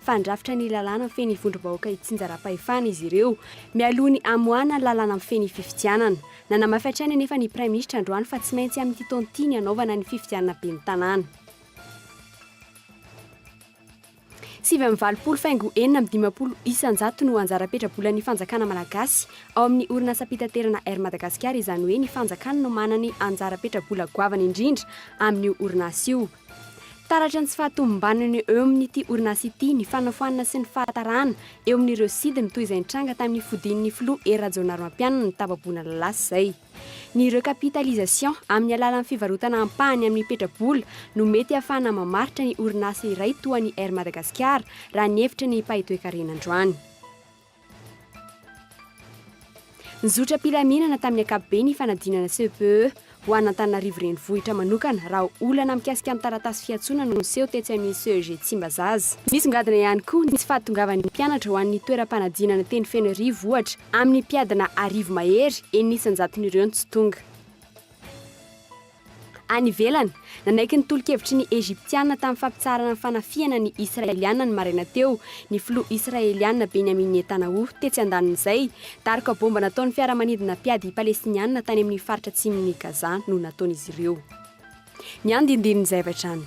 Fandrafitra ny lalàna mifehy ny vondrom-bahoaka hitsinjaram-pahefana izy ireo, mialoha ny hamoahana ny lalàna mifehy ny fifidianana. Nanamafy hatrany anefa ny Praiminisitra androany fa tsy maintsy amin'ity taona ity ny hanaovana ny fifidianana ben'ny Tanàna. Sivy amby valopolo faingo enina amby dimampolo isan-jato no anjara petra-bolan'ny fanjakana malagasy ao amin'ny orinasam-pitaterana Air Madagasikara, izany hoe ny fanjakana no manany anjara petra-bola goavana indrindra amin'io orinasa io. Taratry ny tsy fahatomombanana eo amin'ity orinasa ity ny fanafoanana sy ny fahatarana eo amin'ireo sidiny toy izay nitranga tamin'ny fodian'ny filoha Hery Rajaonarimampianina ny tapa-bolana lasa izay. Ny recapitalisation amin'ny alalan'ny fivarotana ampahany amin'ny petra-bola no mety hahafahana mamaritra ny orinasa iray toa ny Air Madagasikara, raha ny hevitra ny mpahitoekarena androany. Nizotra am-pilaminana tamin'ny ankapobeny ny fanadinana CPE ho an'Antananarivo Renivohitra manokana raha olana mikasika ny taratasy fiantsoana no niseho tetsy amin'ny CEG Tsimbazaza. Nisongadina ihany koa ny tsy fahatongavan'ny mpianatra ho an'ny toeram-panadinana teny Fenoarivo ohatra amin'ny mpiadina arivo mahery, enina isan-jaton'ireo no tsy tonga. Any ivelany, nanaiky ny tolo-kevitry ny Egyptiana tamin'ny fampitsaharana ny fanafihana ny Israeliana ny maraina teo, ny filoha Israeliana Benjamin Netanyahu, tetsy andanin'izay, daroka bomba nataon'ny fiaramanidina mpiady Palestiniana tany amin'ny faritra atsimon'i Gaza no nataon'izy ireo. Ny andindinin'ny zavatra any.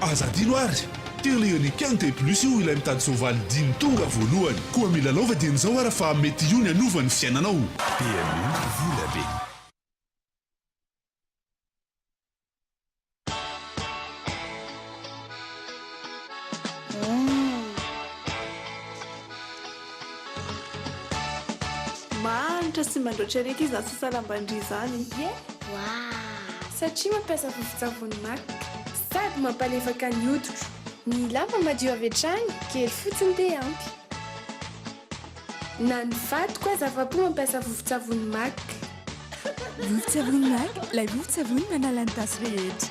Aza adino ary! Telo eo ny can de plus io ilay mitady soavaly dimy tonga voalohany. Koa mila lova dieny zao ara fa mety io ny hanova ny fiainanao. PMU vola be. Mahantra sy mandraotra ery akia izany sasalam-bandria izany. Ye waa! Satria mampiasa vovon-tsavony maka. Sady mampalefaka ny hoditro. Ny lamba madio avy hatrany, kely fotsiny dia ampy. Na ny vadiko aza afa-po mampiasa vovon-tsavony maka. Vovon-tsavony maka, ilay vovon-tsavony manala ny tasy rehetra.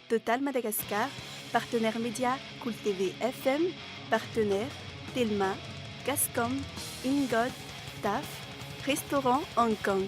Total Madagascar, Partenaire Media, Cool TV FM, Partenaire, Telma, Gascom, Ingod, Taf, Restaurant Hong Kong.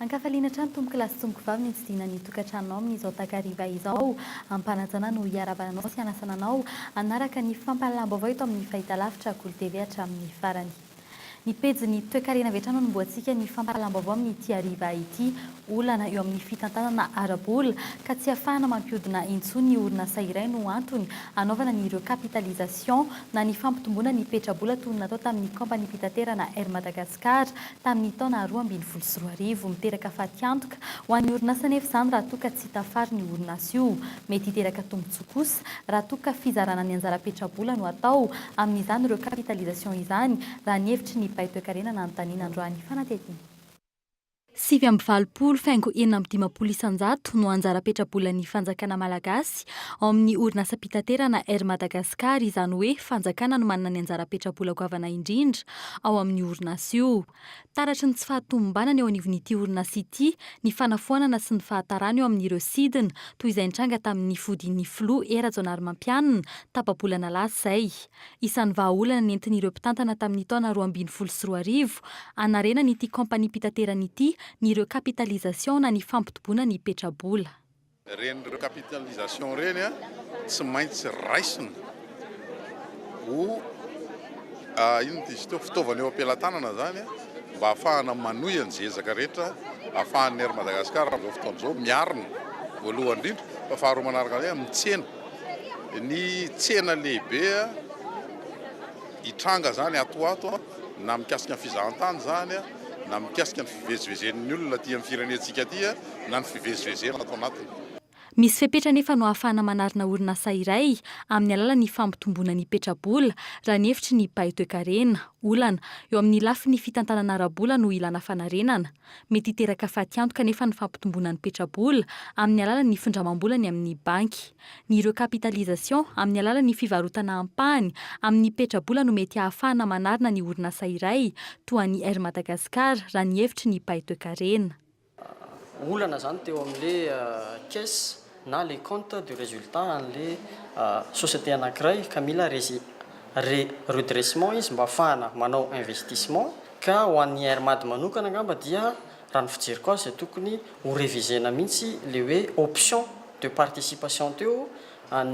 Ankafaliana hatrany tompokolahy sy tompokovavy ny tsidihina ny tokantranonao amin'izao takariva izao. Ampanajana no hiarahvana anao sy hanasana anao hanaraka ny fampahalalam-baovao eto amin'ny fahitalavitra Kolo TV hatramin'ny farany. Ny pejin'ny toekarena avy hatrany no anombohantsika ny fampahalam-baovao amin'ity hariva ity. Olana eo amin'ny fitantanana ara-bola ka tsy ahafahana mampihodina intsony ny orinasa iray no antony hanaovana ny recapitalisation na ny fampitomboana ny petra-bola toy ny natao tamin'ny kaompaniam-pitaterana Air Madagascar tamin'ny taona roa ambin'ny folo sy roa arivo. Miteraka fatiantoka ho an'ny orinasa anefa izany raha toa ka tsy tafarin'io orinasa io Mety hiteraka tombontsoa kosa raha toa ka fizarana ny anjara petrabola no atao amin'izany recapitalisation izany, raha ny hevitry ny mpay toekarena nanontaniana androany fanatetiana. Sivy amby valopolo faingo enina amby dimampolo isan-jato no anjara petrabolan'ny fanjakana malagasy ao amin'ny orinasam-pitaterana Air Madagascar, izany hoe fanjakana no manana ny anjara petrabola goavana indrindra ao amin'io orinasa io. Taratry ny tsy fahatomombanana eo anivon'ity orinasa ity ny fanafoanana sy ny fahatarana eo amin'ireo sidina, toy izay nitranga tamin'ny fodian'ny filoha Hery Rajaonarimampianina, tapa-bolana lasa izay. Isan'ny vahaolana nentin'ireo mpitantana tamin'ny taona roa ambin'ny folo sy roa arivo, hanarenan'ity kaompaniam-pitaterana ity ny recapitalisation na ny fampitoboana ny petrabola. Ireny recapitalisation ireny tsy maintsy raisina ho inona moa izy teo? fitaovana eo am-pelatanana izany mba hahafahana manohy an'izay ezaka rehetra ahafahan'ny Air Madagascar amin'izao fotoana izao miarina voalohany indrindra fa faharoa manaraka an'izay amin'ny tsena. Ny tsena lehibe hitranga izany ato ho ato na mikasika ny fizahantany izany na mikasika ny fivezivezen'ny olona aty amin'ny firenentsika aty. na ny fivezivezena ato anatiny. Misy fepetra anefa no ahafahana manarina orinasa iray amin'ny alalan'ny fampitomboana ny petra-bola, raha ny hevitry ny mpahay toekarena. Olana, eo amin'ny lafiny fitantanana ara-bola no ilana fanarenana. Mety hiteraka fatiantoka anefa ny fampitomboana ny petra-bola amin'ny alalan'ny findramam-bola ny amin'ny banky. Ny recapitalisation amin'ny alalan'ny fivarotana ampahany amin'ny petra-bola no mety ahafahana manarina ny orinasa iray toa an'i Air Madagascar, raha ny hevitry ny mpahay toekarena. olana izany teo amin'ilay caisse na ilay compte de résultat an'ilay société anankiray ka mila resi- re- redressement izy mba hahafahana manao investissement. Ka ho an'ny Air Mad manokana angamba dia raha ny fijeriko azy dia tokony ho reviser-na mihitsy ilay hoe option de participation teo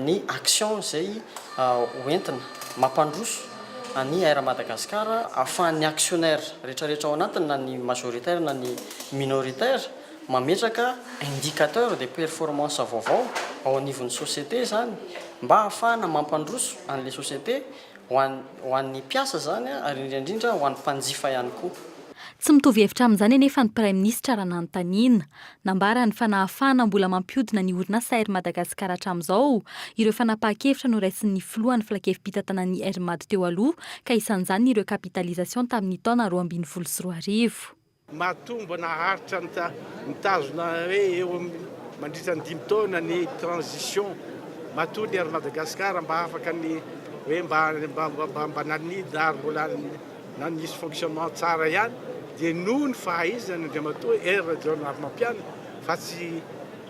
ny action izay ho entina mampandroso an'i Air Madagascar, ahafahan'ny actionnaires rehetrarehetra ao anatiny na ny majoritaires na ny minoritaires mametraka indicateurs de performance vaovao ao anivon'ny société izany mba ahafahana mampandroso an'ilay société ho ho an'ny mpiasa izany ary indrindra indrindra ho an'ny mpanjifa ihany koa. Tsy mitovy hevitra amin'izany anefa ny Praiminisitra raha nanontaniana Nambarany fa nahafahana mbola mampihodina ny orinasa Air Madagascar hatramin'izao ireo fanapahan-kevitra noraisin'ny filohan'ny filankevi-pitantanan'ny Air Mad teo aloha ka isan'izany ireo capitalisation tamin'ny taona roa ambin'ny folo sy roa arivo. Mahatombo naharitra mitazona hoe eo mandritra ny dimy taona ny transition matoa ny Air Madagascar mba afaka ny hoe mba nanidina ary mbola na nisy fonctionnement tsara ihany dia noho ny fahaizan' Andriamatoa Hery Rajaonarimampianina fa tsy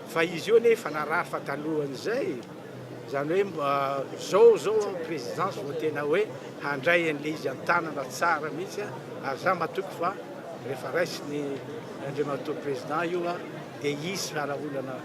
fa izy io anie efa narary fa talohan' izay e! izany hoe mba zao zao aho présidence vao tena hoe handray an'ilay izy an-tanana tsara mihitsy a! ary za matoky fa rehefa raisiny Andriamatoa Président io a! dia hisy fara-olana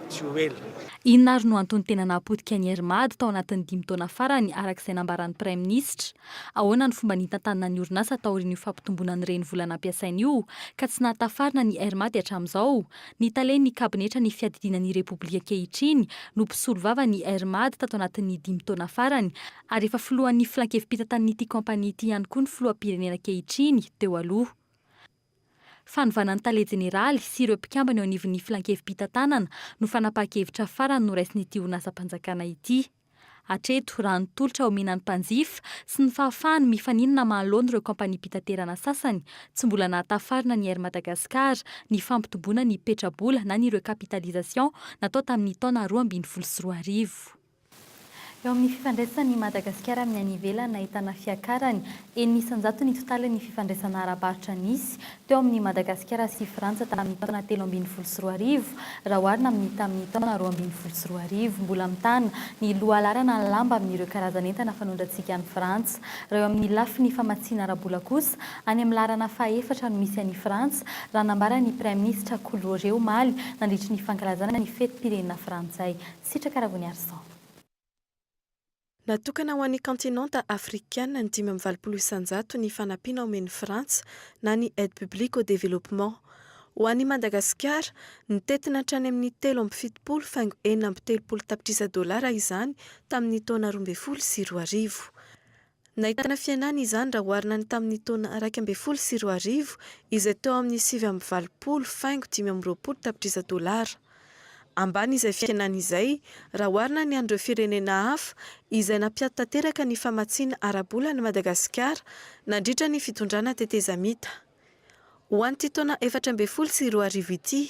tsy ho ela. Inona ary no antony tena nahapotika an'i Hery Mad tao anatin'ny dimy taona farany araka izay nambaran'ny Praiminisitra? Ahoana ny fomba nitantanana ny orinasa taorian'io fampitomboana ny renivola nampiasaina io, ka tsy nahatafarina ny Air Madi hatramin'izao? Ny talen'ny kabinetra ny fiadidiana ny Repoblika ankehitriny no mpisolo vava ny Air Madi tato anatin'ny dimy taona farany, ary efa filohan'ny filankevi-pitantan'ity kaompania ity ihany koa ny filoham-pirenena ankehitriny, teo aloha. Fanovana ny tale jeneraly sy ireo mpikambana eo anivon'ny filankevi-pitantanana no fanapahan-kevitra farany noraisin'ity orinasam-panjakana ity. Hatreto, raha ny tolotra omena ny mpanjifa, tsy ny fahafahany mifaninona maha laoniny ireo kaompaniam-pitaterana sasany, tsy mbola nahatafarina ny Air Madagascar ny fampitomboana ny petra-bola na ny recapitalisation natao tamin'ny taona roa ambin'ny folo sy roa arivo. Eo amin'ny fifandraisan'i Madagasikara amin'ny any ivelany nahitana fiakarany enina isan-jato ny totalin'ny fifandraisana ara-barotra nisy teo amin'i Madagasikara sy Frantsa tamin'ny taona telo ambin'ny folo sy roa arivo raha oharina amin'ny tamin'ny taona roa ambin'ny folo sy roa arivo. Mbola mitana ny lohalaharana ny lamba amin'ireo karazan'entana fanondrantsika any Frantsa raha eo amin'ny lafiny famatsiana ara-bola kosa any amin'ny laharana fahaefatra no misy an'i Frantsa raha nambaran'ny Praiminisitra Kolo ory omaly nandritry ny fankalazana ny fetim-pirenena frantsay Sitraka Ravoniarison. Natokana ho an'ny kaontinanta afrikana ny dimy amby valopolo isanjato ny fanampiana omen'i Frantsa na ny Aide publique au développement. Ho an'i Madagasikara, nitentina hatrany amin'ny telo amby fitopolo faingo enina amby telopolo tapitrisa dolara izany tamin'ny taona roa ambin'ny folo sy roa arivo. Nahitana fihenana izany raha oharina ny tamin'ny taona iraika ambin'ny folo sy roa arivo izay teo amin'ny sivy amby valopolo faingo dimy amby roapolo tapitrisa dolara. Ambany izay fihenana izay raha oharina ny an'ireo firenena hafa izay nampiato tanteraka ny famatsiana ara-bola an'i Madagasikara nandritra ny fitondrana tetezamita. Ho an'ity taona efatra ambin'ny folo sy roa arivo ity,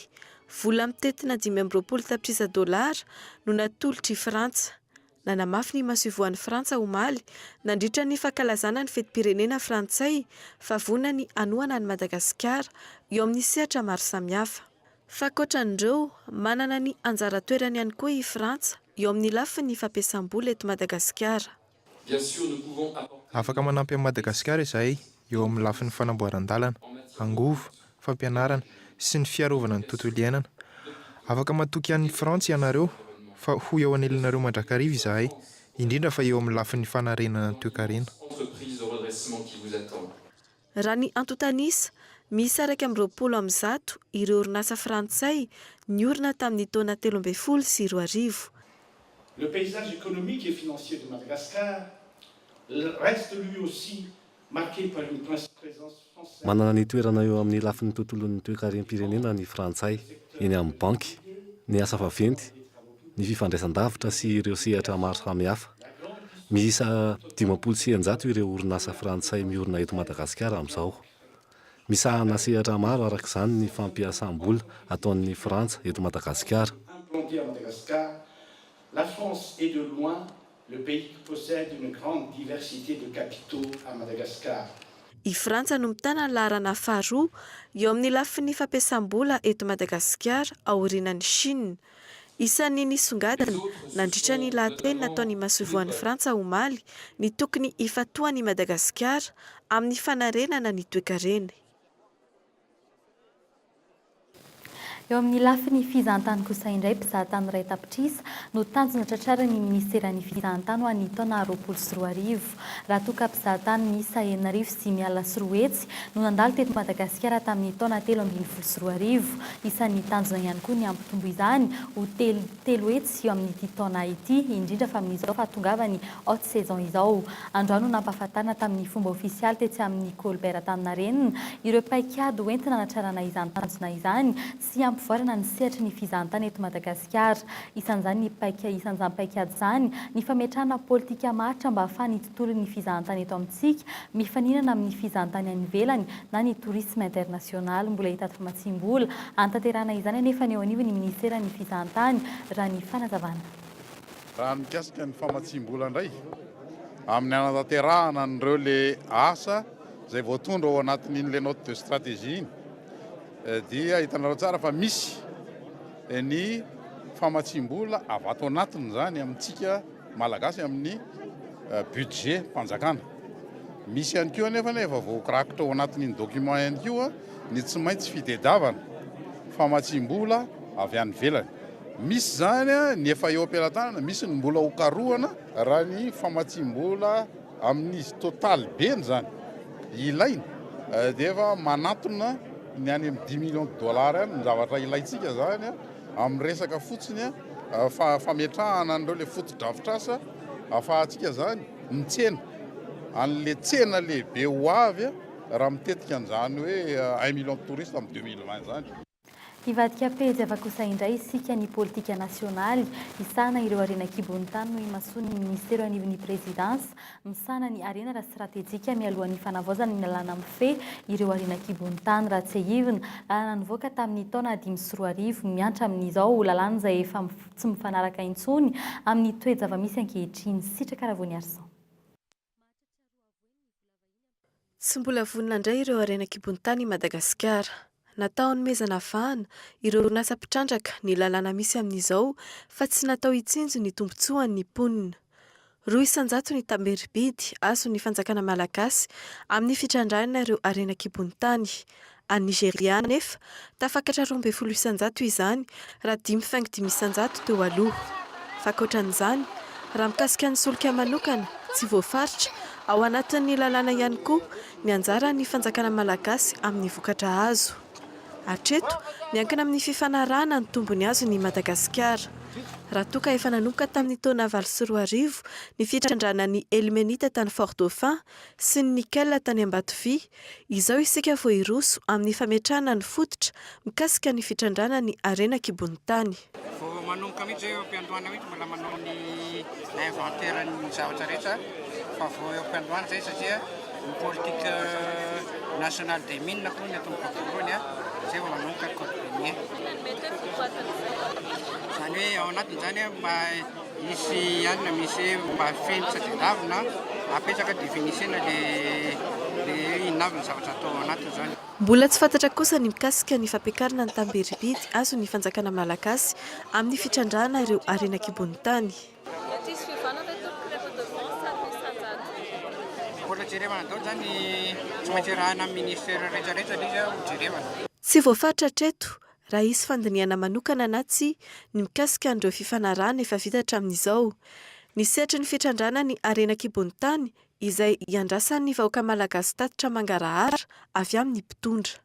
vola mitentina dimy amby roapolo tapitrisa dolara no natolotr'i Frantsa Nanamafy ny masoivohon'i Frantsa omaly, nandritra ny fankalazana ny fetim-pirenena frantsay, fa vonona ny hanohana an'i Madagasikara, eo amin'ny sehatra maro samihafa. Fa ankoatran'ireo, manana ny anjara toerany ihany koa i Frantsa, eo amin'ny lafin'ny fampiasam-bola eto Madagasikara. Afaka manampy an'i Madagasikara izahay, eo amin'ny lafin'ny fanamboaran-dalana, angovo, fampianarana sy ny fiarovana ny tontolo iainana. Afaka matoky an'i Frantsa ianareo fa ho eo anilanareo mandrakariva izahay, indrindra fa eo amin'ny lafiny fanarenana ny toekarena. Raha ny antontan'isa, miisa iraika amby roapolo amin'ny zato ireo orinasa frantsay niorina tamin'ny taona telo ambin'ny folo sy roa arivo. Le paysage économique et financier de Madagascar reste lui aussi marqué par une presence française. Manana ny toerana eo amin'ny lafiny tontolon'ny toekarem-pirenena ny Frantsay, eny amin'ny banky, ny asa vaventy, ny fifandraisan-davitra sy ireo sehatra maro samihafa. Miisa dimampolo sy eninjato ireo orinasa frantsay miorina eto Madagasikara amin'izao. Misahana sehatra maro araka izany ny fampiasam-bola ataon'ny Frantsa eto Madagasikara. Le pays qui possède une grande diversité de capitaux à Madagascar. I Frantsa no mitana ny laharana faharoa eo amin'ny lafiny fampiasam-bola eto Madagasikara aorianan'i Chine. Isan'ny nisongadina, nandritra ny lahateny nataon'ny masoivohon'i Frantsa omaly, ny tokony hifantohan'i Madagasikara amin'ny fanarenana ny toekareny. Eo amin'ny lafiny fizahantany kosa indray, mpizahatany iray tapitrisa no tanjona tratrarin'ny minisiteran'ny fizahantany ho an'ny taona roapolo sy roa arivo. Raha toa ka mpizahatany miisa enina arivo sy dimy alina sy roa hetsy no nandalo teto Madagasikara tamin'ny taona telo ambin'ny folo sy roa arivo, isan'ny tanjona ihany koa ny hampitombo izany ho telo telo hetsy eo amin'ity taona ity, indrindra fa amin'izao fahatongavan'ny haute saison izao. Andro ahy no nampahafantarina tamin'ny fomba ofisialy tetsy amin'ny Colbert Antaninarenina ireo paikady ho entina hanatrarana izany tanjona izany sy hampivoarana ny sehatry ny fizahantany eto Madagasikara. Isan'izany ny paika isan'izany paikady izany ny fametrahana politika maharitra mba hahafahan'ny tontolon' ny fizahantany eto amintsika, mifaninana amin' ny fizahantany any ivelany na ny tourisme international. Mbola hitaty famatsiam-bola hanatanterahana izany anefa ny eo anivon' ny minisiteran' ny fizahantany, raha ny fanazavana. Raha ny mikasika ny famatsiam-bola indray amin' ny hanatanterahana an' ireo le asa izay voatondro ao anatin' iny le note de stratégie iny dia hitanareo tsara fa misy ny famatsiam-bola avy ato anatiny izany amintsika, Malagasy amin'ny budget mpanjakana. Misy ihany koa anefa ny efa voarakitra ao anatin'iny document ihany koa ny tsy maintsy fitediavana famatsiam-bola avy any ivelany. Misy izany ny efa eo am-pelatanana, misy ny mbola ho karohana. Raha ny famatsiam-bola amin'izy totaly beny izany ilaina dia efa manantona ny any amin'ny dix millions de dollars any ny zavatra ilaintsika izany. Amin'ny resaka fotsiny fametrahana an'ireo ilay fotodrafitrasa ahafahantsika izany mitsena an'ilay tsena lehibe ho avy raha mitetika an'izany hoe un million de touristes amin'ny deux mille vingt izany. Hivadika pejy hafa kosa indray isika ny politika nasionaly hisahana ireo harena an-kibon'ny tany no imasoan'ny minisitero anivon'ny prezidansa Misahana ny harena ara-stratejika mialoha ny fanavaozana ny lalàna mifehy ireo harena an-kibon'ny tany raha tsiahivina. Lalàna nivoaka tamin'ny taona dimy sy roa arivo, miantra amin'izao lalàna izay efa tsy mifanaraka intsony amin'ny toe-javamisy ankehitriny. Sitraka Ravoniarison. Tsy mbola vonona handray ireo harena an-kibon-tany i Madagasikara. Natao hanomezana vahana ireo orinasa mpitrandraka ny lalàna misy amin'izao fa tsy natao hitsinjo ny tombontsoan'ny mponina. Roa isan-jato ny tamberim-bidy azon'ny fanjakana malagasy amin'ny fitrandrahana ireo harena an-kibon-tany, Any Nigeria anefa, tafakatra roa ambin'ny folo isan-jato izany, raha dimy faingo dimy isan-jato teo aloha. Fa ankoatra an'izany, raha mikasika ny solika manokana, tsy voafaritra, ao anatin'ny lalàna ihany koa, ny anjaran'ny fanjakana malagasy amin'ny vokatra azo. Hatreto, miankina amin'ny fifanarahana ny tombony azony i Madagasikara. Raha toa ka efa nanomboka tamin'ny taona valo sy roa arivo ny fitrandrahana ny Elmenita tany Fort-Dauphin sy ny Nickel tany Ambatovia, Izao isika vao hiroso amin'ny fametrahana ny fototra mikasika ny fitrandrahana ny harena an-kibon'ny tany. Vao manomboka mihitsy izay eo am-piandohana mihitsy mbola manao ny inventaire ny zavatra rehetra fa vao eo am-piandohana izay satria ny politique nationale des mines aloha ny atomboka voalohany a, izay vao manomboka ny code minier. Izany hoe ao anatin'izany mba. Hisy alina misy mba feno sady indavina apetraka dia vinisena le le inavina zavatra atao ao anatiny zany. Mbola tsy fantatra kosa ny mikasika ny fampiakarana ny tamberibidy azon'ny fanjakana malagasy amin'ny fitrandrahana ireo harena an-kibon'ny tany. Mety hisy fiovanana eto ny prix redevance ary ny sajariny. Mbola jerevana daoly zany tsy maintsy arahina amin'ny ministera rehetra rehetra le izy ho jerevana. Tsy voafaritra hatreto raha hisy fandinihana manokana na tsia ny mikasika an'ireo fifanarahana efa vita hatramin'izao, ny sehatry ny fitrandrahana ny harena an-kibon'ny tany izay iandrasan'ny vahoaka malagasy tatitra mangarahara avy amin'ny mpitondra.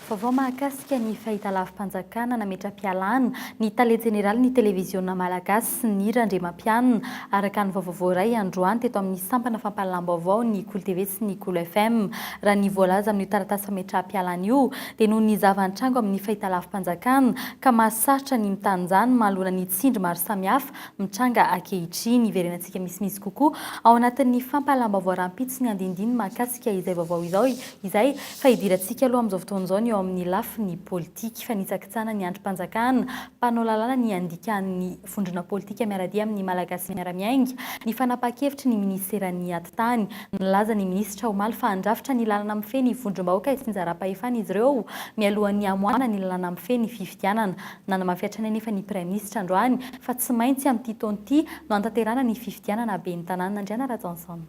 Vaovao mahakasika ny fahitalavi-panjakana nametra-pialana ny tale jeneralin'ny televiziona malagasy. sy Nira Andriamampianina, araka ny vaovao voaray androany teto amin'ny sampana fampahalalam-baovao ny Kolo TV sy ny Kolo FM. Raha ny voalaza amin'io taratasy fametraham-pialana io, dia noho ny zava-nitranga ao amin'ny fahitalavi-panjakana ka mahasarotra ny mitanjany mahaloana ny tsindry maro samihafa mitranga ankehitriny. Hiverenantsika misimisy kokoa ao anatin'ny fampahalalam-baovao rahampitso ny andinindininy mahakasika izay vaovao izao izay, fa hidirantsika aloha amin'izao fotoana izao ny eo amin'ny lafiny politika. Fanitsakitsahana ny andrim-panjakana. mpanao lalàna ny andikan'ny vondrona politika miara-dia amin'ny Malagasy miara-miainga ny fanapahan-kevitry ny Minisiteran'ny Atitany. Nilaza ny Minisitra omaly fa handrafitra ny lalana mifehy ny vondrom-bahoaka itsinjaram-pahefana izy ireo mialohan'ny hamoahana ny lalana mifehy ny fifidianana. Nanamafy hatrany anefa ny Praiminisitra androany fa tsy maintsy amin'ity taona ity no hanatanterahana ny fifidianana ben'ny Tanàna Andriana Rajaonson.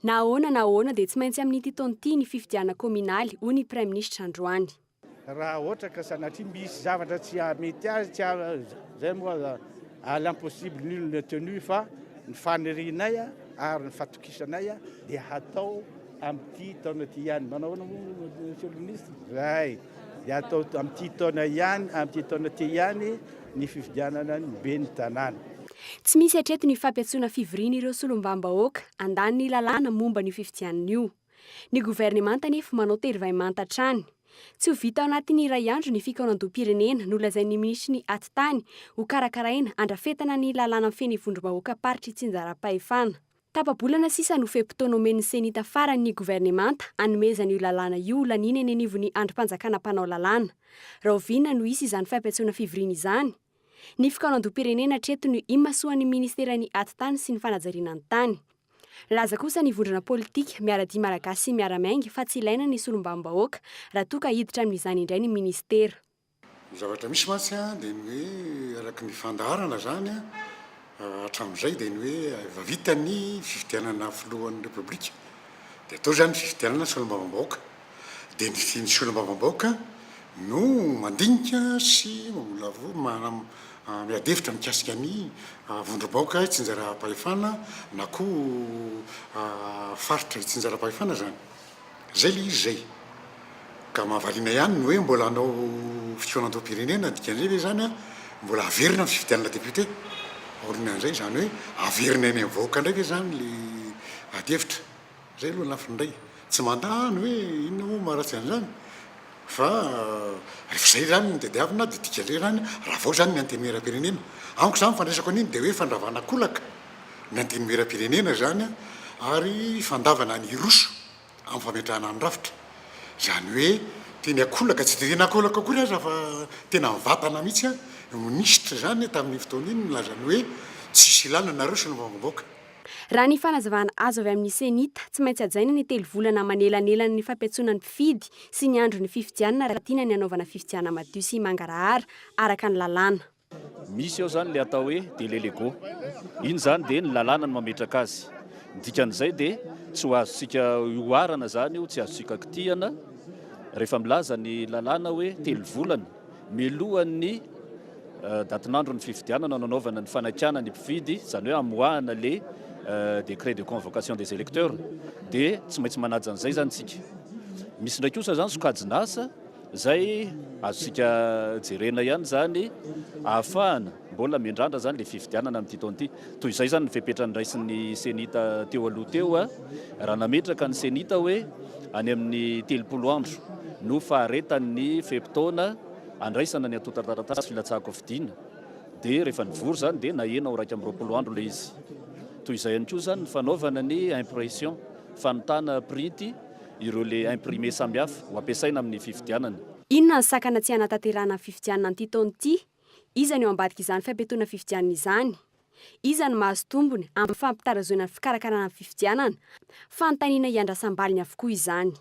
Na ahoana na ahoana dia tsy maintsy amin'ity taona ity ny fifidianana kaominaly, hoy ny Praiminisitra androany. Raha ohatra ka sanatria misy zavatra tsy hahamety azy, tsy ha, izay moa à l'impossible nul n'est tenu, fa ny fanirianay ary ny fatokisanay dia hatao amin'ity taona ity ihany. Manao ahoana moa Monsieur le Ministre? Zay. Dia hatao amin'ity taona ihany, amin'ity taona ity ihany. ny fifidianana ny ben'ny tanàna. Tsy misy hatreto ny fampiantsoana fivorian'ireo solombambahoaka handany ny lalàna momba an'io fifidianana io. Ny governemanta anefa manao terivay manta hatrany. Tsy ho vita ao anatin'ny iray andro ny fikaonandoham-pirenena nolazain'ny minisitry ny Atitany ho karakaraina handrafetana ny lalàna feno ivondrom-bahoakam-paritry itsinjaram-pahefana. Tapa-bolana sisa no fe-potoana omen'ny Ceni tafaran' ny governemanta hanomezana io lalàna io ho laniana eny anivon'ny andrim-panjakana mpanao lalàna. Rahoviana no hisy izany fampiantsoana fivoriana izany? Ny fikaonandoham-pirenena hatreto no imasoan'ny Ministeran'ny Atitany sy ny Fanajariana ny Tany. Nilaza kosa ny vondrona politika Miaradia Malagasy sy Miara-Miainga fa tsy ilaina ny solombavambahoaka raha toa ka hiditra amin'izany indray ny Ministera. Ny zavatra misy mantsy dia ny hoe araka ny fandaharana izany hatramin'izay dia ny hoe efa vita ny fifidianana filohan'ny Repoblika dia atao izany fifidianana solombavambahoaka dia ny solombavambahoaka no mandinika sy mamolavola miady hevitra mikasika ny vondrom-bahoaka itsinjaram-pahefana na koa faritra itsinjaram-pahefana izany. Zay le izy zay. Ka mahavariana ihany ny hoe mbola hanao fikaonandoham-pirenena, dikan'izay ve izany an, mbola haverina ny fifidianana député? Aoriana an'izay, izany hoe haverina eny amin'ny vahoaka indray ve izany le adihevitra? Zay aloha ny lafiny indray. Tsy mandà aho ny hoe inona moa maharatsy an'izany fa rehefa zay izany no tadiavina dia dikan'izay izany raha vao izany ny antenimieram-pirenena. Amiko izany fandraisako an'iny dia hoe fandravana kolaka. ny Antenimierampirenena izany ary fandavana ny hiroso amin'ny fametrahana ny rafitra, izany hoe teny an-kolaka, tsy dia teny an-kolaka akory aza fa tena mivantana mihitsy an, ny minisitra izany tamin'iny fotoana iny nilaza ny hoe tsisy ilàna anareo sy ny vahoakambahoaka. Raha ny fanazavana azo avy amin'ny Cenit, tsy maintsy hajaina ny telo volana manelanelana ny fampiantsoana ny mpifidy sy ny andron'ny fifidianana raha tiana ny hanaovana fifidianana madio sy mangarahara araka ny lalàna. Misy ao izany ilay atao hoe délai légaux. Iny izany dia ny lalàna no mametraka azy. Ny dikan'izay dia tsy ho azontsika oharana izany io, tsy azontsika kitihana rehefa milaza ny lalàna hoe telo volana mialohan'ny datin'andron'ny fifidianana no anaovana ny fanakana ny mpifidy, izany hoe amoahana ilay décret de convocation des électeurs dia tsy maintsy manaja an'izay izany isika. Misy indray kosa izany sokajin'asa. Izay azontsika jerena ihany izany ahafahana mbola miandrandra izany ilay fifidianana amin'ity taona ity. Toy izay izany ny fepetra noraisin'ny Cenit teo aloha teo, raha nametraka ny Cenit hoe any amin'ny telopolo andro no faharetan'ny fe-potoana handraisana ny antontan-taratasy filatsahan-kofidiana, dia rehefa nivory izany dia nahena ho iraika amby roapolo andro ilay izy. Toy izay ihany koa izany ny fanaovana ny impression, fanontana printy, ireo le imprimer samihafa ho ampiasaina amin'ny fifidianana. Inona ny sakana tsy hanatanterahana ny fifidianana an'ity taona ity? Iza ny eo ambadik'izany fiampiatoana fifidianana izany? Iza no mahazo tombony amin'ny fampitarazoina ny fikarakarana ny fifidianana? Fanontaniana iandrasam-baliny avokoa izany.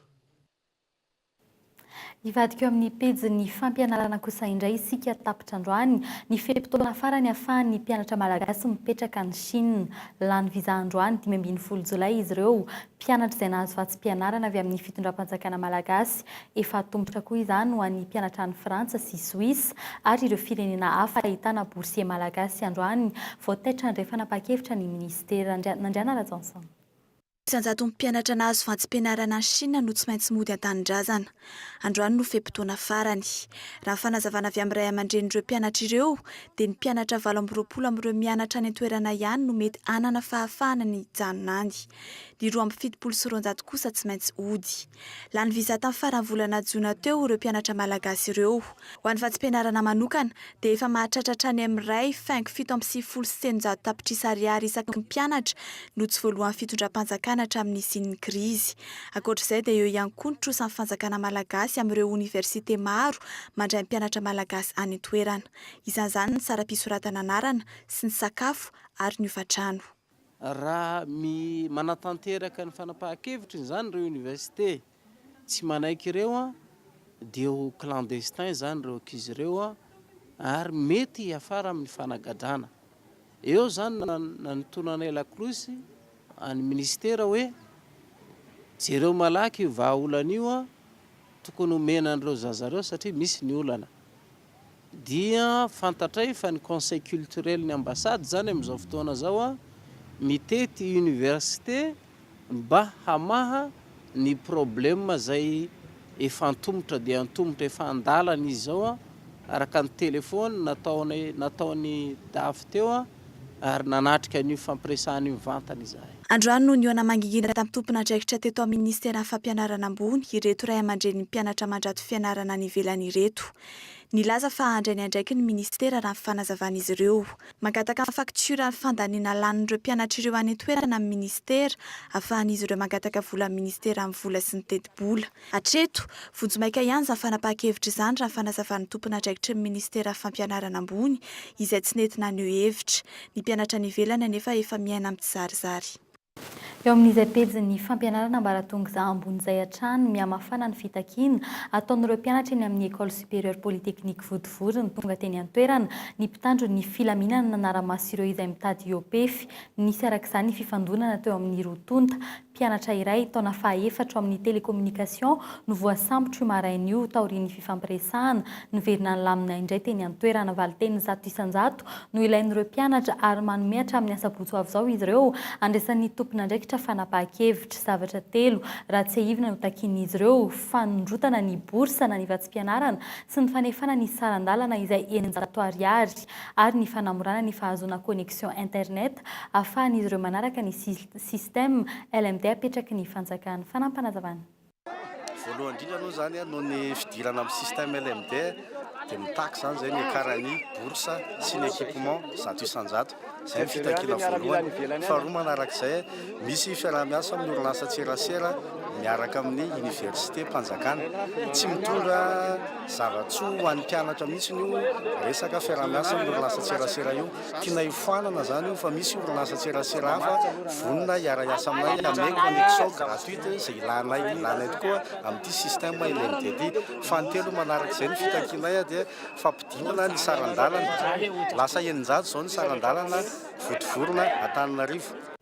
Hivadika eo amin'ny pejin'ny fampianarana kosa indray isika tapitra androany, ny fe-potoana farany ahafahan'ny mpianatra malagasy mipetraka any Chine. Lany visa androany dimy ambin'ny folo jolay izy ireo. Mpianatra izay nahazo vatsim-pianarana avy amin'ny fitondram-panjakana malagasy. Efa atombotra koa izany ho an'ny mpianatra any Frantsa sy Soisa ary ireo firenena hafa ahitana boursiers malagasy androany, vao taitra handray fanapahan-kevitra ny minisitera. Nandriana Rajaonson. Tsy an-jatony mpianatra nahazo vantsim-pianarana any Shina no tsy maintsy mody an-tanindrazana. Androany no fe-potoana farany. Raha ny fanazavana avy amin'ny ray aman-drenin'ireo mpianatra ireo dia ny mpianatra valo amby roapolo amin'ireo mianatra any an-toerana ihany no mety hanana fahafahana ny hijanona any. Ny roa amby fitopolo sy roanjato kosa tsy maintsy hody. Lany visa tamin'ny faran'ny volana jona teo ireo mpianatra malagasy ireo. Ho an'ny vatsim-pianarana manokana dia efa mahatratra hatrany amin'ny iray faingo fito amby sivifolo sy telonjato tapitrisa ariary isaky ny mpianatra no tsy voaloan'ny fitondram-panjakana hatramin'ny nisian'ny krizy. Ankoatra izay dia eo ihany koa ny trosan'ny fanjakana malagasy amin'ireo oniversite maro mandray ny mpianatra malagasy any an-toerana. Isan'izany ny saram-pisoratana anarana sy ny sakafo ary ny hofantrano. Raha manatanteraka ny fanapahan-kevitry ny izany ireo université tsy manaiky ireo dia ho clandestin izany ireo ankizy ireo ary mety hiafara amin'ny fanagadrana. Eo izany no nanotonanay lakolosy an'ny minisitera hoe jereo malaky io vahaolana io tokony homena an'ireo zaza ireo satria misy ny olana. Dia fantatray fa ny conseil culturel ny ambassade izany amin'izao fotoana izao mitety université mba hamaha ny problème izay efa antomotra dia antomotra efa andalana izy izao araka ny téléphone nataonay nataon'i dafy teo ary nanatrika an'io fampiresahana io mivantana izahay. Androany no nihaona mangingina tamin'ny tompon'andraikitra teto amin'ny Minisiteran'ny Fampianarana ambony ireto ray aman-drenin'ny mpianatra mandrato fianarana any ivelany ireto. Nilaza fa handray ny andraikiny ny Minisitera raha ny fanazavan'izy ireo. Mangataka ny faktioran'ny fandaniana lanin'ireo mpianatra ireo any an-toerana amin'ny Minisitera afahan'izy ireo mangataka vola amin'ny Minisitera amin'ny vola sy ny tetibola. Hatreto, vonjimaika ihany izany fanapahan-kevitra izany raha ny fanazavan'ny tompon'andraikitry ny minisitera fampianarana ambony izay tsy nety naneho hevitra. Ny mpianatra any ivelany anefa efa miaina amin'ny tsizarizary. Eo amin'izay pejin'ny fampianarana ambaratonga ambony izay hatrany mihamafana ny fitakiana ataon'ireo mpianatra eny amin'ny Ecole Supérieure Polytechnique Votovory ny tonga teny an-toerana ny mpitandro ny filaminana nanara-maso ireo izay mitady hiopefy. Nisy araka izany ny fifandonana teo amin'ny roa tonta Mpianatra iray taona fahaefatra ao amin'ny Télécommunication no voasambotro io maraina io taorian'ny fifampiresahana. Niverina nilamina indray teny an-toerana. Valinteny zato isan-jato no ilain'ireo mpianatra ary manome hatramin'ny asabotsy ho avy izao izy ireo. Andraisan'ny tompon'andraikitra fanapahan-kevitra. Zavatra telo raha tsiahivina no takian'izy ireo, fanondrotana ny bourse na ny vatsim-pianarana sy ny fanefana ny saran-dalana izay eninjato ariary ary ny fanamorana ny fahazoana connexion internet ahafahan'izy ireo manaraka ny Système, LMD apetraky ny fanjakana. Fanampanazavan'. Voalohany indrindra aloha izany noho ny fidirana amin'ny système LMD dia mitaky izany izay ny ecarani, bourse, sy ny equipement zato isan-jato. Izay ny fitakiana voalohany. Faharoa manaraka izay, misy fiaraha-miasa amin'ny orinasa tserasera miaraka amin'ny université, mpanjakana. Tsy mitondra zava-tsoa ho an'ny mpianatra mihitsy io resaka fiaraha-miasa amin'ny orinasa tserasera io. Tianay hofoanana zany io fa misy orinasa tserasera hafa vonona hiara-hiasa aminay hanome connexion gratuite izay ilanay ilanay tokoa amin'ity système LMD ity. Fahatelo manaraka izay ny fitakianay dia fampidinana ny saran-dalana. Lasa eninjato izao ny saran-dalana votovorona Antananarivo.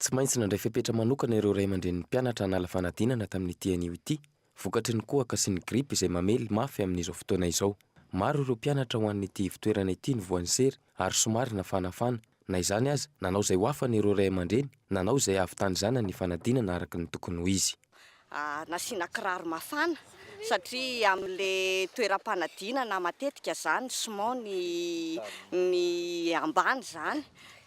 Tsy maintsy nandray fepetra manokana ireo ray aman-drenin'ny mpianatra hanala fanadinana tamin'ity anio ity, vokatry ny kohaka sy ny gripa izay mamely mafy amin'izao fotoana izao. Maro ireo mpianatra ho an'ity ivo-toerana ity no voan'ny sery ary somary nafanafana. Na izany aza, nanao izay ho afany ireo ray aman-dreny, nanao izay hahavitan'ny zanany ny fanadinana araka ny tokony ho izy. nasiana kiraro mafana satria amin'le toeram-panadinana matetika zany siman ny ny ambany zany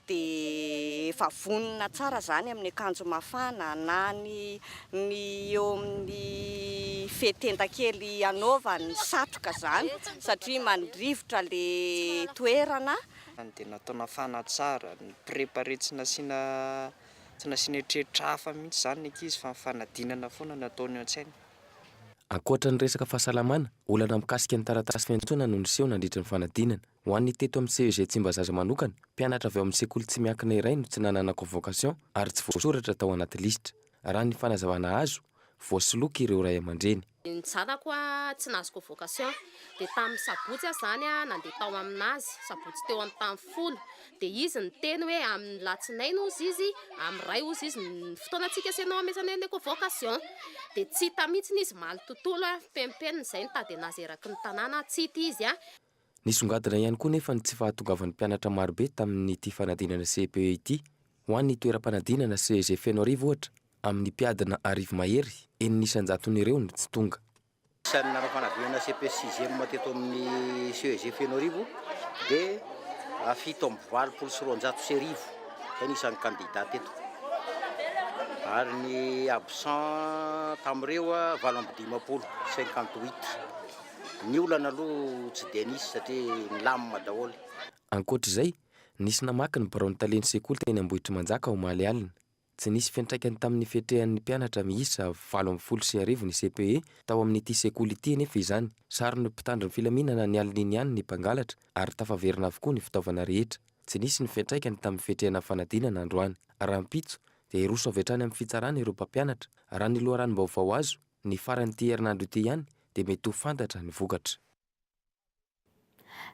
de efa vonona tsara zany amin'ny akanjo mafana na ny ny eo amin'ny fehin-tenda kely anaovany satroka zany satria mandrivotra le toerana dia natao nafana tsara, ni-preparer tsy nasiana Tsy nasiana eritreritra hafa mihitsy izany ny ankizy fa ny fanadinana foana no ataony eo an-tsainy. Ankoatra ny resaka fahasalamana, olana mikasika ny taratasy fiantsoana no niseho nandritry ny fanadinana. Ho an'ny teto amin'ny CEG Tsimbazaza manokana, mpianatra avy ao amin'ny sekoly tsy miankina iray no tsy nanana convocation ary tsy voasoratra tao anaty lisitra. Raha ny fanazavana azo, voasoloky ireo ray aman-dreny. Ny zanako a tsy nahazo convocation dia tamin'ny sabotsy aho izany a nandeha tao aminazy sabotsy teo amin'ny tany folo dia izy niteny hoe amin'ny latsinainy ozy izy amin'ny ray ozy izy ny fotoana tsy hikasena ao amezana ilay convocation dia tsy hita mihitsiny izy maly tontolo a fenimpenina izay nitady anazy eraky ny tanàna a tsy hita izy a. Nisongadina ihany koa nefa ny tsy fahatongavan'ny mpianatra marobe tamin'ity fanadinana CEPE ity ho an'ny toeram-panadinana CEG Fenoarivo ohatra Amin'ny mpiadina arivo mahery, enina isan-jatony ireo no tsy tonga. Isan'ny nanao fanadinana CEPS sixième teto amin'ny CEG Fenoarivo dia fito amby valopolo sy roanjato sy arivo, izay ny isan'ny kandida teto. Ary ny absent tamin'ireo, valo amby dimampolo, cinquante huit. Ny olana aloha tsy dia nisy satria nilamina daholo. Ankoatra izay, nisy namaky ny biraon'ny talen'ny sekoly teny Ambohitrimanjaka omaly alina. Tsy nisy fiantraikany tamin'ny fiatrehan'ny mpianatra miisa valo ambin'ny folo sy arivo ny CPE tao amin'ity sekoly ity anefa izany. Saron'ny mpitandro ny filaminana ny alin'iny ihany ny mpangalatra ary tafaverina avokoa ny fitaovana rehetra. Tsy nisy ny fiantraikany tamin'ny fiatrehana fanadinana androany. Rahampitso dia hiroso avy hatrany amin'ny fitsarana ireo mpampianatra. Raha ny loharanom-baovao azo, ny faran'ity herinandro ity ihany dia mety ho fantatra ny vokatra.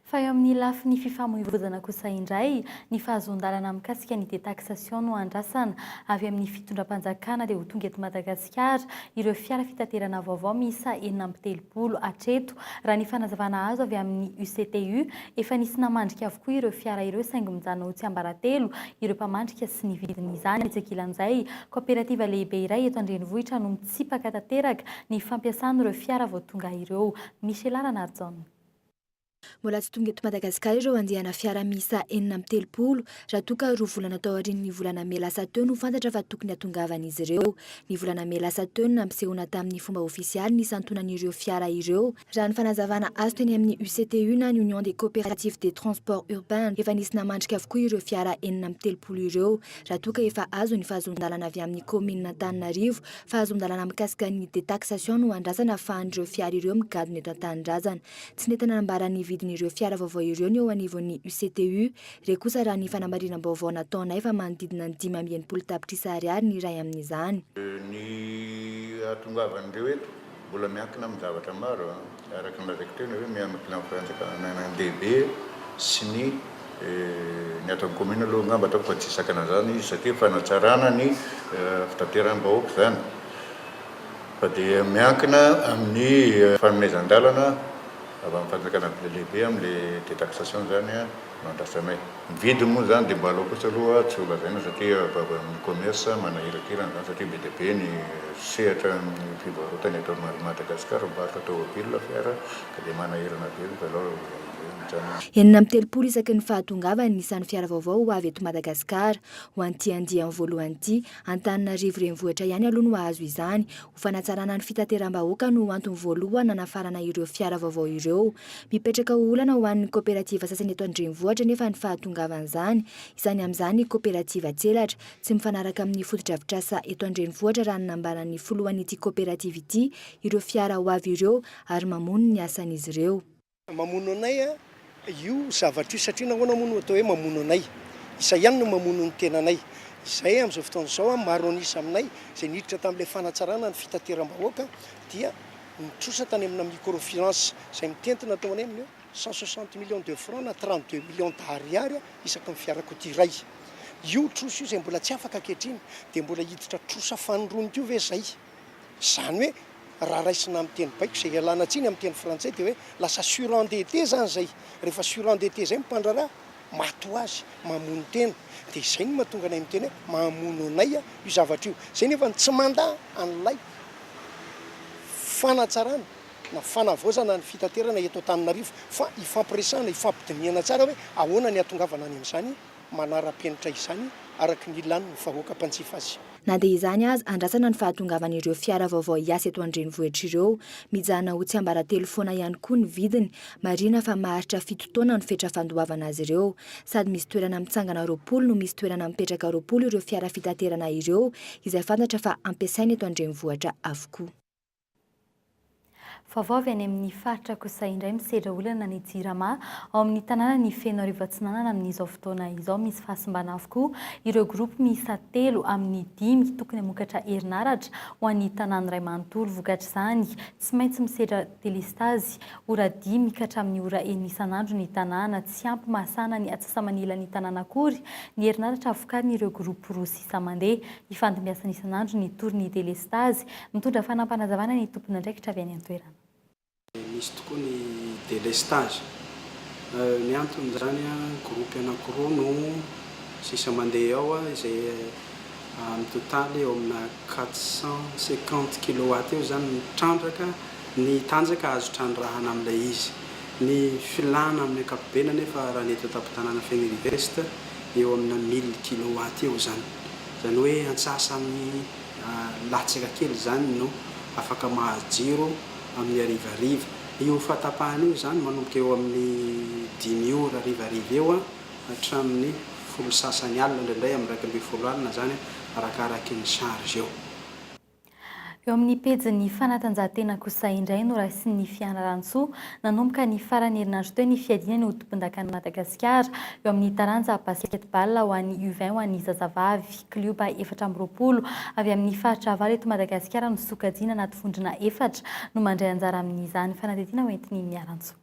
Fa eo amin'ny lafiny fifamoivoizana kosa indray, ny fahazoan-dalana mikasika ny detaxation no andrasana. Avy amin'ny fitondram-panjakana dia ho tonga eto Madagasikara ireo fiara fitaterana vaovao miisa enina amby telopolo hatreto. Raha ny fanazavana azo avy amin'ny UCTU, efa nisy namandrika avokoa ireo fiara ireo saingy mijanona ho tsiambaratelo ireo mpamandrika sy ny vidin'izany. Etsy ankilan'izay, kaoperativa lehibe iray eto an-drenivohitra no mitsipaka tanteraka ny fampiasana ireo fiara vao tonga ireo. Michela Ranarison. Mbola tsy tonga eto Madagasikara ireo andiana fiara miisa enina amby telopolo, raha toa ka roa volana tao aorian'ny volana mey lasa teo no fantatra fa tokony hatongavan'izy ireo. Ny volana mey lasa teo no nampisehoana tamin'ny fomba ofisialy ny santonan'ireo fiara ireo, raha ny fanazavana azo teny amin'ny UCTU na ny Union des Coopératives des Transports Urbains. Efa nisy namandrika avokoa ireo fiara enina amby telopolo ireo, raha toa ka efa azo ny fahazoan-dalana avy amin'ny kaominina Antananarivo Fahazon-dalàna mikasika ny detaxation no andrasana ahafahan'ireo fiara ireo migadona eto an-tanindrazana. Tsy nety nanambara ny vidin'ireo fiara vaovao ireo ny eo anivon'ny UCTU. Re kosa raha ny fanamarinam-baovao nataonay fa manodidina ny dimy amby enimpolo tapitrisa ariary ny iray amin'izany. Ny hahatongavan'ireo eto Mbola miankina amin'ny zavatra maro, araka ny lazaiko teo, ny hoe miankina amin'ny fanjakana an-dehibe sy ny ny ato amin'ny commune aloha angamba ataoko fa tsy hisakana izany izy satria fanatsarana ny fitateram-bahoaka izany fa dia miankina amin'ny fanomezan-dalana avy amin'ny fanjakana lehibe amin'ilay detaxation izany an! andrasanay. Ny vidiny moa izany dia mba aleo kosa aloha tsy ho lazaina satria ny commerce manahirakirana izany satria be dia be ny sehatra ny fivarotana eto amin'i Madagasikara, mivarotra tômôbila, fiara ka dia manahirana be aloha izao amin'izay mijanona. Enina amby telopolo isaky ny fahatongavan'ny isan'ny fiara vaovao ho avy eto Madagasikara. Ho an'ity andiany voalohany ity, Antananarivo Renivohitra ihany aloha no hahazo izany, Fanatsarana ny fitateram-bahoaka no antony voalohany nanafarana ireo fiara vaovao ireo. Mipetraka ho olana ho an'ny kaoperativa sasany eto an-drenivohitra anefa ny fahatongavan'izany, isany amin'izany ny kaoperativa Tselatra. Tsy mifanaraka amin'ny fotodrafitrasa eto an-drenivohitra raha ny nambaran'ny filohan'ity kaoperativa ity ireo fiara ho avy ireo ary mamono ny asan'izy ireo. Mamono anay io zavatra io satria nahoana moa no atao hoe mamono anay? Izay ihany no mamono ny tenanay. Izay amin'izao fotoana izao, maro an'isa aminay izay niditra tamin'ilay fanatsarana ny fitateram-bahoaka dia nitrosa tany amina microfinance izay mitentina tao anay amin'eo cent soixante millions de francs na trente deux millions d'ariary isaky ny fiarakodia iray. Io trosa io izay mbola tsy afaka ankehitriny dia mbola hiditra trosa fanirony koa ve izay? Izany hoe raha raisina amin'ny teny baiko izay ialana tsiny amin'ny teny frantsay dia hoe lasa surendetté izany izay. Rehefa surendetté izay ny mpandraharaha, maty ho azy, mamono tena. Dia izay no mahatonga anay miteny hoe mamono anay io zavatra io. Izay nefa no tsy mandà an'ilay fanatsarana na fanavaozana ny fitaterana eto Antananarivo fa ifampiresahana, ifampidinihana tsara hoe ahoana ny hahatongavana any amin'izany. manara-penitra izany araka ny lan'ny vahoaka mpanjifa azy. Na dia izany aza, andrasana ny fahatongavan'ireo fiara vaovao hiasa eto an-drenivohitra ireo. Mijanona ho tsiambaratelo foana ihany koa ny vidiny. Marihina fa maharitra fito taona ny fetra fandoavana azy ireo. Sady misy toerana mitsangana roapolo no misy toerana mipetraka roapolo ireo fiara fitaterana ireo izay fantatra fa ampiasaina eto an-drenivohitra avokoa. Vaovao avy any amin'ny faritra Kosa indray misedra olana ny Jirama ao amin'ny tanànan'i Fenoarivo Atsinanana amin'izao fotoana izao. Misy fahasimbana avokoa ireo groupe miisa telo amin'ny dimy tokony hamokatra herinaratra ho an'ny tanàna iray manontolo. Vokatr'izany, tsy maintsy misedra delestazy ora dimy ka hatramin'ny ora enina isan'andro ny tanàna. Tsy ampy mahasahana ny atsasa-manilan'ny tanàna akory ny herinaratra vokarin'ireo groupe roa sy isa mandeha. Ifandimbiasana isan'andro ny torin'ny delestazy. Mitondra fanampanazavanana ny tompon'andraikitra avy any an-toerana. Misy tokoa ny delestazy. Ny anton'izany, gropy anankiroa no sisa mandeha ao, izay mitotaly eo amina quatre cent cinquante kilowatt eo izany ny trandraka, ny tanjaka azo trandrahana amin'ilay izy. Ny filàna amin'ny ankapobeny anefa, raha ny eto an-tampon-tanàna Fenirivest, eo amina mille kilowatt eo izany. Izany hoe antsasamin'ny latsaka kely izany no afaka mahazo jiro amin'ny harivariva. Io fahatapahana io izany manomboka eo amin'ny dimy ora harivariva eo hatramin'ny folo sy sasany alina, indraindray amin'ny iraika ambin'ny folo alina izany arakaraka ny charge eo. Eo amin'ny pejin'ny fanatanjahantena kosa indray no raisin'ny fianarantsoa nanomboka ny faran'ny herinandro teo ny fiadiana ny hodim-pondakan'i Madagasikara eo amin'ny taranja basketball ho an'ny U vingt ho an'ny zazavavy. Klioba efatra amby roapolo avy amin'ny faritra valo eto Madagasikara no sokajiana anaty vondrona efatra no mandray anjara amin'izany fanadihadiana hoentin'ny Miarantsoa.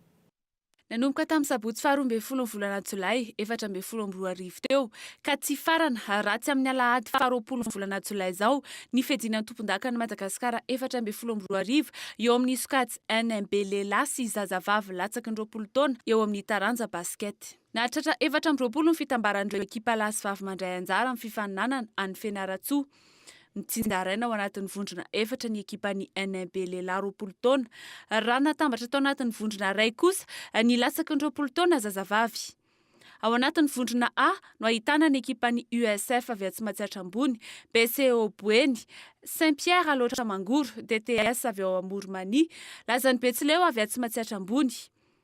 Nanomboka tamin'ny sabotsy faharoa ambin'ny folon'ny volana jolay efatra ambin'ny folo amby roa arivo teo ka tsy hifarana raha tsy amin'ny alahady faharoapolon'ny volana jolay izao ny fiadiana an-tompondakan'i Madagasikara efatra ambin'ny folo amby roa arivo eo amin'ny sokajy NMB lehilahy sy zazavavy latsaky ny roapolo taona eo amin'ny taranja basket. Nahatratra efatra amby roapolo ny fitambaran'ireo ekipa lahy sy vavy mandray anjara amin'ny fifaninanana any Fianarantsoa. Mitsinjaraina ao anatin'ny vondrona efatra ny ekipan'ny NMB lehilahy roapolo taona. Raha natambatra tao anatin'ny vondrona iray kosa ny latsaky ny roapolo taona zazavavy. Ao anatin'ny vondrona A no ahitana ny ekipan'ny USF avy atsy Matsiatra Ambony, BCEAO Boeny, Saint Pierre Alaotra Mangoro, DTS avy ao Amorimania, Lazan'i Betsileo avy atsy Matsiatra Ambony.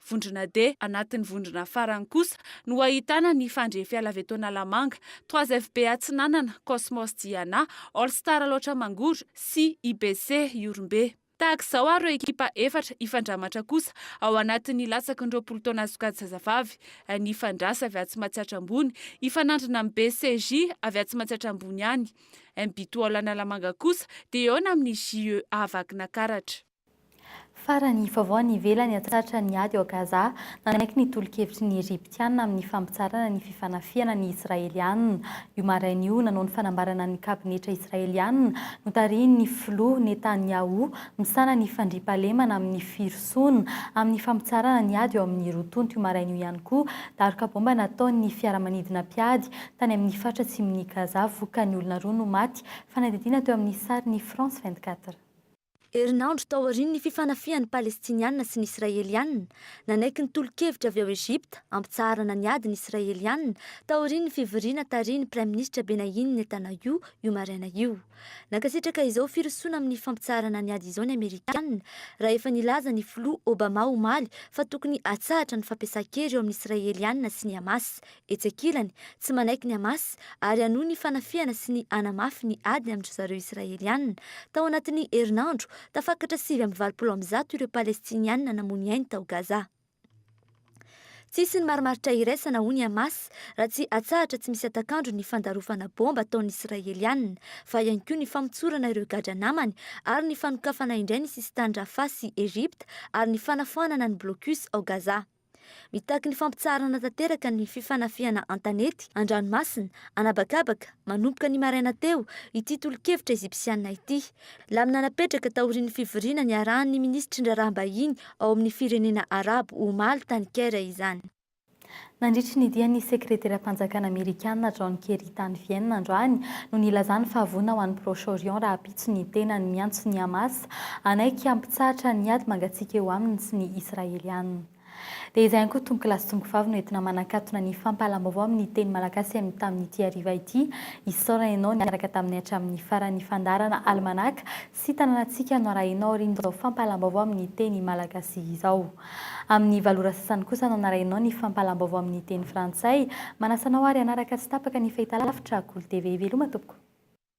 Vondrona D, anatin'ny vondrona farany kosa no ahitana ny Fandria Fialavento Analamanga, Trois FB Atsinanana, Cosmos Diana, All Star Alaotra Mangoro sy IBC Ihorombe. Tahaka izao ary ireo ekipa efatra hifandramatra kosa ao anatin'ny latsaky ny roapolo taona sokajy zazavavy, ny Fandrasa avy Atsy Matsiatra Ambony hifanandrina amin'ny BCJ avy Atsy Matsiatra Ambony ihany. Ny Bitool Analamanga kosa dia hihaona amin'ny JEA Vakinakaratra. Farany, vaovao any ivelany aty tratra ny ady ao Gaza, nanaiky ny tolo-kevitry ny Ejiptiana amin'ny fampitsarana ny fifanafihana ny Israeliana. Io maraina io, nanao ny fanambarana ny kabinetra Israeliana notarihin'ny filoha Netanyahu misahana ny fandriampahalemana amin'ny firosoana amin'ny fampitsarana ny ady eo amin'ny roa tonta io maraina io ihany koa daroka baomba nataon'ny fiaramanidina mpiady tany amin'ny faritra atsimon'i Gaza vokany olona roa no maty fanadihadiana teo amin'ny sarin'ny France 24. Herinandro tao aorian'ny fifanafihan'ny Palestiniana sy ny Israeliana, nanaiky ny tolo-kevitra avy ao Egypta hampitsaharana ny ady ny Israeliana taorian'ny fivoriana tarihin'ny Praiminisitra Benayin Netanyahu io maraina io. Nankasitraka izao firosoana amin'ny fampitsaharana ny ady izao ny Amerikana raha efa nilaza ny Filoha Obama omaly fa tokony hatsahatra ny fampiasan-kery eo amin'ny Israeliana sy ny Hamas Etsy ankilany, tsy manaiky ny Hamas ary hanohy ny fanafihana sy ny hanamafy ny ady amin-dry zareo Israeliana. Tao anatin'ny herinandro, tafakatra sivy amby valopolo amin'ny zato ireo Palestiniana namony ainy tao Gaza. Tsy hisy ny marimaritra iraisana, hoy ny Hamas, raha tsy atsahatra tsy misy hatak'andro ny fandarofana baomba ataon'ny Israeliana, fa ihany koa ny famotsorana ireo gadra namany ary ny fanokafana indray ny sisin-tany Rafah sy Egypta ary ny fanafoanana ny blocus ao Gaza. Mitaky ny fampitsaharana tanteraka ny fifanafihana an-tanety, an-dranomasina, an'habakabaka, manomboka ny maraina teo, ity tolo-kevitra Ejipsiana ity. Lamina napetraka taorian'ny fivoriana niarahan'ny minisitry ny raharaham-bahiny ao amin'ny firenena Arabo, omaly, tany Caire izany. Nandritry ny dian'ny Sekreteram-panjakana Amerikana John Kerry tany Vienne androany no nilazany fa voina ho an'i Proche-Orient raha Tsy ny tenany miantso ny Hamas hanaiky hampitsahatra ny ady mangatsiaka eo aminy sy ny Israeliana. Dia izay ihany koa tompokolahy sy tompokovavy no entina manakatona ny fampahalam-baovao amin'ny teny malagasy amin'ny tamin'ity hariva ity. Isaorana ianao niaraka taminay hatramin'ny faran'ny fandaharana Alimanaka sy Tanànantsika no arahina ao aorian'izao fampahalam-baovao amin'ny teny malagasy izao. Amin'ny valo ora sasany kosa no anarahinao ny fampahalam-baovao amin'ny teny frantsay. Manasa anao ary hanaraka tsy tapaka ny fahitalavitra Akolo TV. Veloma tompoko!